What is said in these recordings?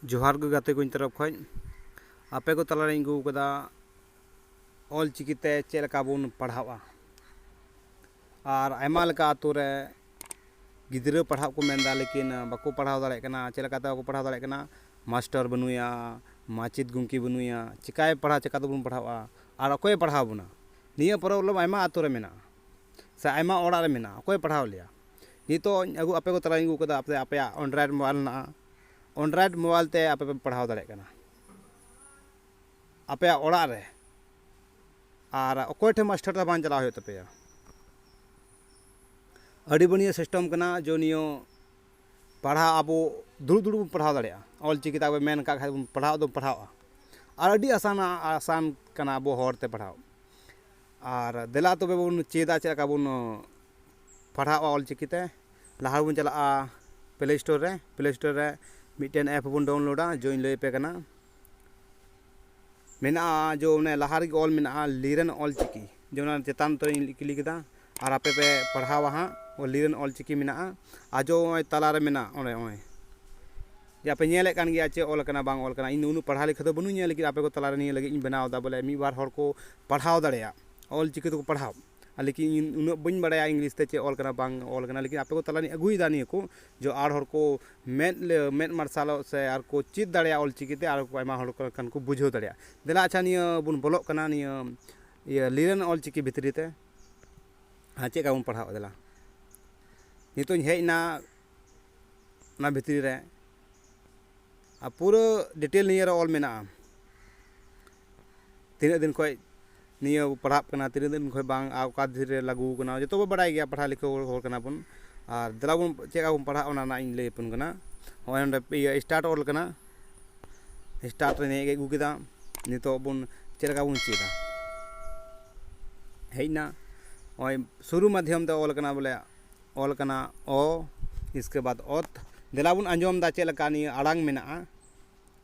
ᱡᱚᱦᱟᱨ ᱜᱮ ᱜᱟᱛᱮ ᱠᱚᱧ ᱛᱚᱨᱚᱯᱷ ᱠᱷᱚᱡ ᱟᱯᱮ ᱠᱚ ᱛᱟᱞᱟᱨᱮᱧ ᱟᱹᱜᱩ ᱟᱠᱟᱫᱟ ᱚᱞ ᱪᱤᱠᱤ ᱛᱮ ᱪᱮᱫ ᱞᱮᱠᱟ ᱵᱚᱱ ᱯᱟᱲᱦᱟᱣᱜᱼᱟ ᱟᱨ ᱟᱭᱢᱟ ᱞᱮᱠᱟ ᱟᱹᱛᱩ ᱨᱮ ᱜᱤᱫᱽᱨᱟᱹ ᱯᱟᱲᱦᱟᱜ ᱠᱚ ᱢᱮᱱ ᱮᱫᱟ ᱞᱮᱠᱤᱱ ᱵᱟᱠᱚ ᱯᱟᱲᱦᱟᱣ ᱫᱟᱲᱮᱭᱟᱜ ᱠᱟᱱᱟ ᱪᱮᱫ ᱞᱮᱠᱟᱛᱮ ᱵᱟᱠᱚ ᱯᱟᱲᱦᱟᱣ ᱫᱟᱲᱮᱭᱟᱜ ᱠᱟᱱᱟ ᱢᱟᱥᱴᱟᱨ ᱵᱟᱹᱱᱩᱭᱟ ᱢᱟᱪᱮᱫ ᱜᱚᱢᱠᱮ ᱵᱟᱹᱱᱩᱭᱟ ᱪᱤᱠᱟᱭ ᱯᱟᱲᱦᱟᱣ ᱪᱤᱠᱟᱹ ᱛᱮᱵᱚᱱ ᱯᱟᱲᱦᱟᱣᱜᱼᱟ ᱟᱨ ᱚᱠᱚᱭᱮ ᱯᱟᱲᱦᱟᱣ ᱵᱚᱱᱟ ᱱᱤᱭᱟᱹ ᱯᱨᱚᱵᱞᱮᱢ ᱟᱭᱢᱟ ᱟᱹᱛᱩ ᱨᱮ ᱢᱮᱱᱟᱜᱼᱟ ᱥᱮ ᱟᱭᱢᱟ ᱚᱲᱟᱜ ᱨᱮ ᱢᱮᱱᱟᱜᱼᱟ ᱚᱠᱚᱭ ᱯᱟᱲᱦᱟᱣ ᱞᱮᱭᱟ ᱱᱤᱛᱚᱜ ᱤᱧ ᱟᱹᱜᱩ ᱟᱯᱮ ᱠᱚ ᱛᱟᱞᱟᱨᱤᱧ ᱟᱹᱜᱩ ᱠᱟᱫᱟ ᱟᱯᱮ ᱟᱯᱮᱭᱟᱜ ᱮᱱᱰᱨᱚᱭᱮᱰ ᱢᱳᱵᱟᱭᱤᱞ ᱢᱮᱱᱟᱜᱼᱟ ᱮᱱᱰᱨᱚᱭᱮᱰ ᱢᱳᱵᱟᱭᱤᱞ ᱛᱮ ᱟᱯᱮ ᱯᱮ ᱯᱟᱲᱦᱟᱣ ᱫᱟᱲᱮᱭᱟᱜ ᱠᱟᱱᱟ ᱟᱯᱮᱭᱟᱜ ᱚᱲᱟᱜ ᱨᱮ ᱟᱨ ᱚᱠᱚᱭ ᱴᱷᱮᱱ ᱢᱟᱥᱴᱟᱨ ᱫᱚ ᱵᱟᱝ ᱪᱟᱞᱟᱜ ᱦᱩᱭᱩᱜ ᱛᱟᱯᱮᱭᱟ ᱟᱹᱰᱤ ᱵᱟᱹᱱᱤᱭᱟᱹ ᱥᱤᱥᱴᱮᱢ ᱠᱟᱱᱟ ᱡᱮ ᱱᱤᱭᱟᱹ ᱯᱟᱲᱦᱟᱣ ᱟᱵᱚ ᱫᱩᱲᱩᱵ ᱫᱩᱲᱩᱵ ᱵᱚᱱ ᱯᱟᱲᱦᱟᱣ ᱫᱟᱲᱮᱭᱟᱜᱼᱟ ᱚᱞ ᱪᱤᱠᱤ ᱛᱟᱵᱚᱱ ᱢᱮᱱ ᱠᱟᱜ ᱠᱷᱟᱱ ᱵᱚᱱ ᱯᱟᱲᱦᱟᱣ ᱫᱚ ᱯᱟᱲᱦᱟᱣᱜᱼᱟ ᱟᱨ ᱟᱹᱰᱤ ᱟᱥᱟᱱᱟ ᱟᱥᱟᱱ ᱠᱟᱱᱟ ᱟᱵᱚ ᱦᱚᱲᱛᱮ ᱯᱟᱲᱦᱟᱣ ᱟᱨ ᱫᱮᱞᱟ ᱛᱚᱵᱮ ᱵᱚᱱ ᱪᱮᱫᱟ ᱪᱮᱫ ᱞᱮᱠᱟ ᱵᱚᱱ ᱯᱟᱲᱦᱟᱜᱼᱟ ᱚᱞ ᱪᱤᱠᱤ ᱛᱮ ᱞᱟᱦᱟ ᱵᱚᱱ ᱪᱟᱞᱟᱜᱼᱟ ᱯᱞᱮ ᱥᱴᱳᱨ ᱨᱮ ᱯᱞᱮ ᱥᱴᱳᱨ ᱨᱮ ᱢᱤᱫᱴᱮᱱ ᱮᱯ ᱵᱚᱱ ᱰᱟᱣᱩᱱᱞᱳᱰᱟ ᱡᱚᱧ ᱞᱟᱹᱭ ᱟᱯᱮ ᱠᱟᱱᱟ ᱢᱮᱱᱟᱜᱼᱟ ᱡᱚ ᱚᱱᱮ ᱞᱟᱦᱟ ᱨᱮᱜᱮ ᱚᱞ ᱢᱮᱱᱟᱜᱼᱟ ᱞᱤᱨᱮᱱ ᱚᱞ ᱪᱤᱠᱤ ᱡᱮ ᱚᱱᱟ ᱪᱮᱛᱟᱱ ᱩᱛᱟᱹᱨᱤᱧ ᱠᱞᱤᱠ ᱮᱫᱟ ᱟᱨ ᱟᱯᱮ ᱯᱮ ᱯᱟᱲᱦᱟᱣᱟ ᱦᱟᱸᱜ ᱞᱤᱨᱮᱱ ᱚᱞ ᱪᱤᱠᱤ ᱢᱮᱱᱟᱜᱼᱟ ᱟᱨ ᱡᱚ ᱱᱚᱜᱼᱚᱸᱭ ᱛᱟᱞᱟ ᱨᱮ ᱢᱮᱱᱟᱜ ᱚᱱᱮ ᱱᱚᱜᱼᱚᱸᱭ ᱡᱮ ᱟᱯᱮ ᱧᱮᱞᱮᱫ ᱠᱟᱱ ᱜᱮᱭᱟ ᱪᱮᱫ ᱚᱞ ᱠᱟᱱᱟ ᱵᱟᱝ ᱚᱞ ᱠᱟᱱᱟ ᱤᱧ ᱫᱚ ᱩᱱᱟᱹᱜ ᱯᱟᱲᱦᱟᱣ ᱞᱮᱠᱷᱟ ᱫᱚ ᱵᱟᱹᱱᱩᱧᱟ ᱞᱮᱠᱤᱱ ᱟᱯᱮ ᱠᱚ ᱛᱟᱞᱟ ᱨᱮ ᱱᱤᱭᱟᱹ ᱞᱟᱹᱜᱤᱫ ᱤᱧ ᱵᱮᱱᱟᱣᱫᱟ ᱵᱚᱞᱮ ᱢᱤᱫ ᱵᱟᱨ ᱦᱚᱲ ᱠᱚ ᱯᱟᱲᱦᱟᱣ ᱫᱟᱲᱮᱭᱟᱜ ᱚᱞ ᱪᱤᱠᱤ ᱛᱮᱠᱚ ᱯᱟᱲᱦᱟᱣ ᱞᱮᱠᱤᱱ ᱤᱧ ᱩᱱᱟᱹᱜ ᱵᱟᱹᱧ ᱵᱟᱲᱟᱭᱟ ᱤᱝᱞᱤᱥ ᱛᱮ ᱪᱮᱫ ᱚᱞ ᱠᱟᱱᱟ ᱵᱟᱝ ᱚᱞ ᱠᱟᱱᱟ ᱞᱮᱠᱤᱱ ᱟᱯᱮ ᱠᱚ ᱛᱟᱞᱟ ᱨᱤᱧ ᱟᱹᱜᱩᱭᱮᱫᱟ ᱱᱤᱭᱟᱹ ᱠᱚ ᱡᱮ ᱟᱨ ᱦᱚᱲ ᱠᱚ ᱢᱮᱫ ᱢᱮᱫ ᱢᱟᱨᱥᱟᱞᱚᱜ ᱥᱮ ᱟᱨ ᱠᱚ ᱪᱮᱫ ᱫᱟᱲᱮᱭᱟᱜ ᱚᱞ ᱪᱤᱠᱤ ᱛᱮ ᱟᱨ ᱠᱚ ᱟᱭᱢᱟ ᱦᱚᱲ ᱠᱚ ᱠᱷᱟᱱ ᱠᱚ ᱵᱩᱡᱷᱟᱹᱣ ᱫᱟᱲᱮᱭᱟᱜ ᱫᱮᱞᱟ ᱟᱪᱪᱷᱟ ᱱᱤᱭᱟᱹ ᱵᱚᱱ ᱵᱚᱞᱚᱜ ᱠᱟᱱᱟ ᱱᱤᱭᱟᱹ ᱤᱭᱟᱹ ᱞᱤᱭᱟᱹᱱ ᱚᱞ ᱪᱤᱠᱤ ᱵᱷᱤᱛᱨᱤ ᱛᱮ ᱟᱨ ᱪᱮᱫ ᱞᱮᱠᱟ ᱵᱚᱱ ᱯᱟᱲᱦᱟᱜᱼᱟ ᱫᱮᱞᱟ ᱱᱤᱛᱚᱜ ᱤᱧ ᱦᱮᱡ ᱮᱱᱟ ᱚᱱᱟ ᱵᱷᱤᱛᱨᱤ ᱨᱮ ᱟᱨ ᱯᱩᱨᱟᱹ ᱰᱤᱴᱮᱞ ᱱᱤᱭᱟᱹ ᱨᱮ ᱚᱞ ᱢᱮᱱᱟᱜᱼᱟ ᱛᱤᱱᱟᱹᱜ ᱫᱤᱱ ᱠᱷᱚᱱ ᱱᱤᱭᱟᱹ ᱵᱚᱱ ᱯᱟᱲᱦᱟᱜ ᱠᱟᱱᱟ ᱛᱤᱱᱟᱹᱜ ᱫᱤᱱ ᱠᱷᱚᱱ ᱵᱟᱝ ᱟᱨ ᱚᱠᱟ ᱫᱤᱱ ᱨᱮ ᱞᱟᱹᱜᱩ ᱠᱟᱱᱟ ᱡᱚᱛᱚ ᱵᱚᱱ ᱵᱟᱲᱟᱭ ᱜᱮᱭᱟ ᱯᱟᱲᱦᱟᱣ ᱞᱮᱠᱷᱟ ᱦᱚᱲ ᱠᱟᱱᱟ ᱵᱚᱱ ᱟᱨ ᱫᱮᱞᱟ ᱵᱚᱱ ᱪᱮᱫ ᱞᱮᱠᱟ ᱵᱚᱱ ᱯᱟᱲᱦᱟᱜᱼᱟ ᱚᱱᱟ ᱨᱮᱱᱟᱜ ᱤᱧ ᱞᱟᱹᱭ ᱟᱵᱚᱱ ᱠᱟᱱᱟ ᱱᱚᱜᱼᱚᱭ ᱱᱚᱰᱮ ᱤᱭᱟᱹ ᱥᱴᱟᱨᱴ ᱚᱞ ᱠᱟᱱᱟ ᱥᱴᱟᱨᱴ ᱨᱮ ᱱᱤᱭᱟᱹ ᱜᱮ ᱟᱹᱜᱩ ᱠᱮᱫᱟ ᱱᱤᱛᱚᱜ ᱵᱚᱱ ᱪᱮᱫ ᱞᱮᱠᱟ ᱵᱚᱱ ᱪᱮᱫᱟ ᱦᱮᱡ ᱮᱱᱟ ᱱᱚᱜᱼᱚᱭ ᱥᱩᱨᱩ ᱢᱟᱫᱽᱫᱷᱚᱢ ᱛᱮ ᱚᱞ ᱠᱟᱱᱟ ᱵᱚᱞᱮ ᱚᱞ ᱠᱟᱱᱟ ᱚ ᱤᱥᱠᱮ ᱵᱟᱫ ᱚᱛ ᱫᱮᱞᱟ ᱵᱚᱱ ᱟᱸᱡᱚᱢᱫᱟ ᱪᱮᱫ ᱞᱮᱠᱟ ᱱᱤᱭᱟᱹ ᱟᱲᱟᱝ ᱢᱮᱱᱟᱜᱼᱟ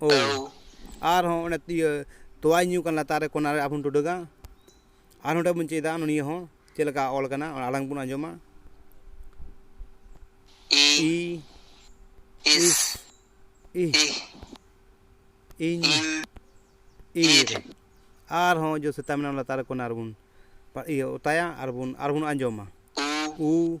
ᱳ ᱟᱨᱦᱚᱸ ᱚᱱᱮ ᱤᱭᱟᱹ ᱛᱳᱣᱟᱭ ᱧᱩ ᱠᱟᱱ ᱞᱟᱛᱟᱨ ᱨᱮ ᱠᱚᱱᱟ ᱨᱮ ᱟᱵᱚ ᱵᱚᱱ ᱴᱩᱰᱟᱹᱜᱟ ᱟᱨ ᱱᱚᱸᱰᱮ ᱵᱚᱱ ᱪᱮᱫᱟ ᱱᱤᱭᱟᱹ ᱦᱚᱸ ᱪᱮᱫ ᱞᱮᱠᱟ ᱚᱞ ᱠᱟᱱᱟ ᱚᱱᱟ ᱟᱲᱟᱝ ᱵᱚᱱ ᱟᱸᱡᱚᱢᱟ ᱤ ᱤᱥ ᱤ ᱤᱧ ᱤᱨ ᱟᱨᱦᱚᱸ ᱡᱚ ᱥᱮᱛᱟ ᱢᱮᱱᱟᱜᱼᱟ ᱞᱟᱛᱟᱨ ᱨᱮ ᱠᱚᱱᱟ ᱨᱮᱵᱚᱱ ᱤᱭᱟᱹ ᱚᱛᱟᱭᱟ ᱟᱨᱵᱚᱱ ᱟᱨᱵᱚᱱ ᱟᱸᱡᱚᱢᱟ ᱩ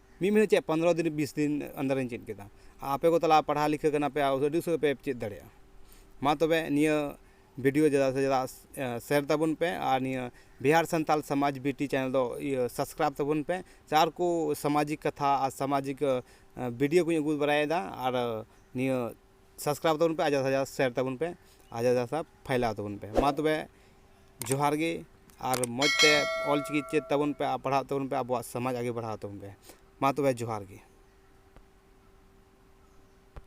ᱢᱤᱫ ᱢᱤᱱᱤᱴ ᱪᱮᱫ ᱯᱚᱱᱨᱚ ᱫᱤᱱ ᱵᱤᱥ ᱫᱤᱱ ᱟᱱᱰᱟᱨ ᱨᱤᱧ ᱪᱮᱫ ᱠᱮᱫᱟ ᱟᱯᱮ ᱠᱚ ᱛᱟᱞᱟ ᱯᱟᱲᱦᱟᱣ ᱞᱤᱠᱷᱟᱹ ᱠᱟᱱᱟ ᱯᱮ ᱟᱨ ᱟᱹᱰᱤ ᱩᱥᱟᱹᱨᱟ ᱯᱮ ᱪᱮᱫ ᱫᱟᱲᱮᱭᱟᱜᱼᱟ ᱢᱟ ᱛᱚᱵᱮ ᱱᱤᱭᱟᱹ ᱵᱷᱤᱰᱭᱳ ᱡᱟᱫᱟ ᱥᱮ ᱡᱟᱫᱟ ᱥᱮᱭᱟᱨ ᱛᱟᱵᱚᱱ ᱯᱮ ᱟᱨ ᱱᱤᱭᱟᱹ ᱵᱤᱦᱟᱨ ᱥᱟᱱᱛᱟᱲ ᱥᱚᱢᱟᱡᱽ ᱵᱤᱴᱤ ᱪᱮᱱᱮᱞ ᱫᱚ ᱤᱭᱟᱹ ᱥᱟᱵᱥᱠᱨᱟᱭᱤᱵᱽ ᱛᱟᱵᱚᱱ ᱯᱮ ᱥᱮ ᱟᱨ ᱠᱚ ᱥᱟᱢᱟᱡᱤᱠ ᱠᱟᱛᱷᱟ ᱟᱨ ᱥᱟᱢᱟᱡᱤᱠ ᱵᱷᱤᱰᱭᱳ ᱠᱚᱧ ᱟᱹᱜᱩ ᱵᱟᱲᱟᱭᱮᱫᱟ ᱟᱨ ᱱᱤᱭᱟᱹ ᱥᱟᱵᱥᱠᱨᱟᱭᱤᱵᱽ ᱛᱟᱵᱚᱱ ᱯᱮ ᱟᱨ ᱡᱟᱫᱟ ᱥᱮ ᱡᱟᱫᱟ ᱥᱮᱭᱟᱨ ᱛᱟᱵᱚᱱ ᱯᱮ ᱟᱨ ᱡᱟᱫᱟ ᱥᱮ ᱡᱟᱫᱟ ᱯᱷᱟᱭᱞᱟᱣ ᱛᱟᱵᱚᱱ ᱯᱮ ᱢᱟ ᱛᱚᱵᱮ ᱡᱚᱦᱟᱨ ᱜᱮ ᱟᱨ ᱢᱚᱡᱽ ᱛᱮ ᱚᱞ ᱪᱤᱠᱤ ᱪᱮᱫ ᱛᱟᱵᱚᱱ ᱯᱮ ᱟᱨ ᱯᱟᱲᱦᱟᱜ ᱛᱟᱵᱚᱱ ᱯᱮ ᱟᱵᱚᱣᱟᱜ ᱥᱚᱢᱟᱡᱽ ᱟᱜᱮ ᱵᱟᱲᱦᱟᱣ ᱛᱟᱵᱚᱱ ᱯᱮ ᱢᱟ ᱛᱚᱵᱮ ᱡᱚᱦᱟᱨ ᱜᱮ